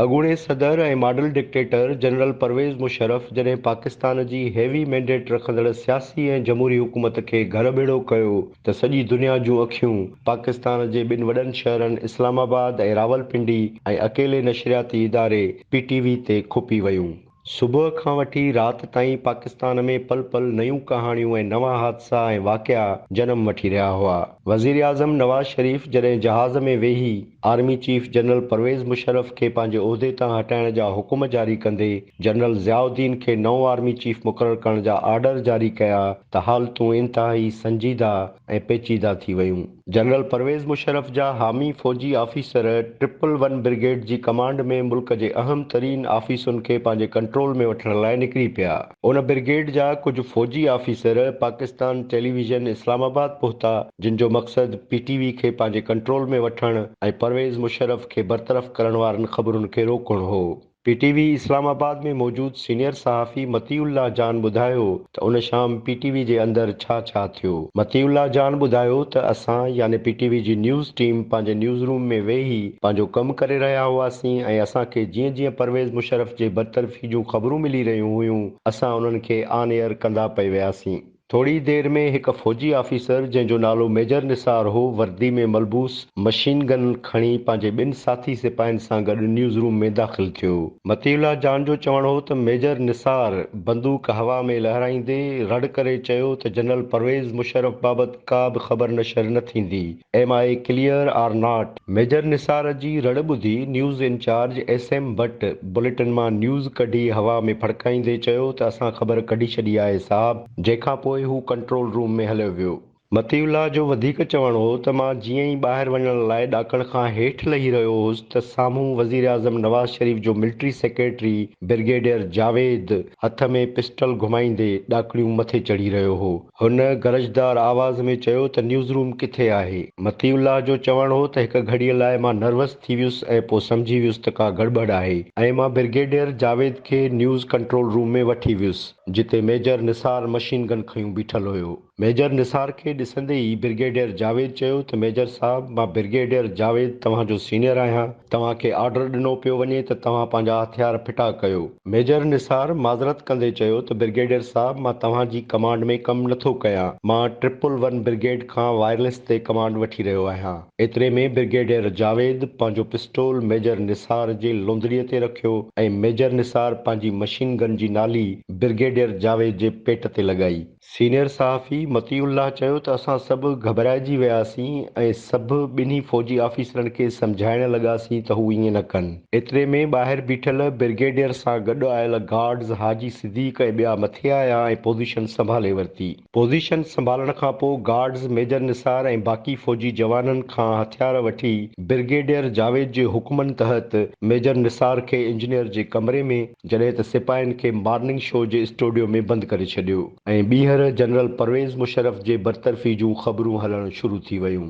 اڳوڻي صدر ۽ model dictator general Pervez Musharraf جڏهن پاڪستان جي هيوي مينڊيٽ رکندڙ سياسي ۽ جمهوري حڪومت کي گهر ٻيڙو ڪيو ته سڄي دنيا جون اکيون پاڪستان جي ٻن وڏن شهرن اسلام آباد ۽ راولپنڊي ۽ اڪيلي نشرياتي اداري پي ٽي وي تي کپي ويون. صبح کان وٺي رات تائين پاڪستان ۾ پل پل نيون ڪهاڻيون ۽ نوان حادثا ۽ واقعا جنم وٺي رهيا هئا. وزيراعظم نواز شريف جڏهن جهاز ۾ ويهي army chief general Pervez Musharraf کي پنهنجي عهدي تان هٽائڻ جا حڪم جاري ڪندي جنرل ضياء الدين کي نئون آرمي چيف مقرر ڪرڻ جا آرڊر جاري ڪيا ته حالتون انتهائي سنجيده ۽ پيچيده ٿي ويون. جنرل پرويز مشرف جا حامي فوجي آفيسر ٽرپل ون برگيڊ جي ڪمانڊ ۾ ملڪ جي اهم ترين آفيسن کي پنهنجي ڪنٽرول ۾ وٺڻ لاء نڪري پيا. ان برگيڊ جا ڪجهه فوجي officer Pakistan television Islamabad پهتا، جن جو مقصد پي ٽي وي کي پنهنجي ڪنٽرول ۾ وٺڻ ۽ پرويز مشرف کي برطرف ڪرڻ وارن خبرن کي روڪڻ هو. P T V Islamabad ۾ موجود سينيئر صحافي مطيع الله جان ٻڌايو ته ان شام پي ٽي وي جي اندر ڇا ڇا ٿيو. مطيع الله جان ٻڌايو ته اسان يعني پي ٽي وي جي نيوز ٽيم پنهنجي نيوز روم ۾ ويهي پنهنجو ڪم ڪري رهيا هئاسين ۽ اسان کي جيئن جيئن پرويز مشرف جي برطرفي جون خبرون ملي رهيون هيون اسان انهن کي آن ايئر ڪندا پئي وياسين. ٿوري ئي دير ۾ هڪ فوجي آفيسر جنهن جو نالو ميجر نثار هو، وردي ۾ ملبوس، مشين گن کڻي پنهنجي ٻن ساٿي سپاهين سان گڏ نيوز روم ۾ داخل ٿيو. مطيع الله جان جو چوڻ هو ته ميجر نثار بندوق هوا ۾ لهرائيندي رڙ ڪري چيو ته جنرل پرويز مشرف بابت ڪا به خبر نشر نه ٿيندي. Am I clear or not? Major Nisar جي رڙ ٻڌي news in charge S M Butt bulletin مان نيوز ڪڍي هوا ۾ ڦڙڪائيندي چيو ته اسان خبر ڪڍي ڇڏي آهي صاحب جنهن کان پوء هو ڪنٽرول روم ۾ هليو ويو. مطيع الله جو وڌيڪ چوڻ هو ته مان جيئن ئي ٻاهر وڃڻ لاء ڏاڪڻ کان هيٺ لهي رهيو هوس ته سامهون وزيراعظم نواز شريف جو ملٽري سيڪريٽري برگيڊيئر جاويد هٿ ۾ پسٽل گهمائيندي ڏاڪڻيون مٿي چڙهي رهيو هو. هن گرجدار آواز ۾ چيو ته نيوز روم ڪٿي آهي؟ مطيع الله جو چوڻ هو ته هڪ گهڙيء لاء مان نروس ٿي ويس ۽ پوء سمجهي ويس ته ڪا گڙٻڙ آهي ۽ مان برگيڊيئر جاويد کي نيوز ڪنٽرول روم ۾ وٺي ويس جتي ميجر نثار مشين گن کنيون بيٺل هيو. ميجر نثار کي ڏسندي ئي برگيڊيئر جاويد چيو ته ميجر صاحب مان برگيڊيئر جاويد توهان جو سينيئر آهيان، توهان کي آرڊر ڏنو پيو وڃي ته توهان پنهنجا هٿيار ڦٽا ڪيو. ميجر نثار معذرت ڪندي چيو ته برگيڊيئر صاحب مان توهان جي ڪمانڊ ۾ ڪم نه ٿو ڪيان، مان ٽرپل ون برگيڊ کان وائرليس تي ڪمانڊ وٺي رهيو آهيان. ايتري ۾ برگيڊيئر جاويد پنهنجو پسٽول ميجر نثار جي لونڌڙي تي رکيو ۽ ميجر نثار پنهنجي مشين گن جي نالي برگيڊيئر جاويد جي پيٽ تي لڳائي. سينيئر صحافي مطيع الله چيو ته اسان سڀ گهٻرائجي وياسين ۽ سڀ ٻنهي فوجي آفيسرن کي سمجهائڻ لڳاسين ته هو ائين نه ڪن. ايتري ۾ ٻاهر بيٺل برگيڊيئر سان گڏ آيل گارڊز حاجي صديق ۽ ٻيا مٿي آيا ۽ پوزيشن سنڀالي ورتي. پوزيشن سنڀالڻ کانپوء گارڊز ميجر نثار ۽ باقي فوجي جوانن کان هٿيار وٺي برگيڊيئر جاويد جي حڪمن تحت ميجر نثار کي انجنيئر جي ڪمري ۾، جڏهن ته سپاهين کي مارننگ شو جي اسٽوڊيو ۾ بند ڪري ڇڏيو ۽ ٻيهر جنرل پرويز مشرف جي برطرفي جون خبرون هلڻ شروع ٿي ويون.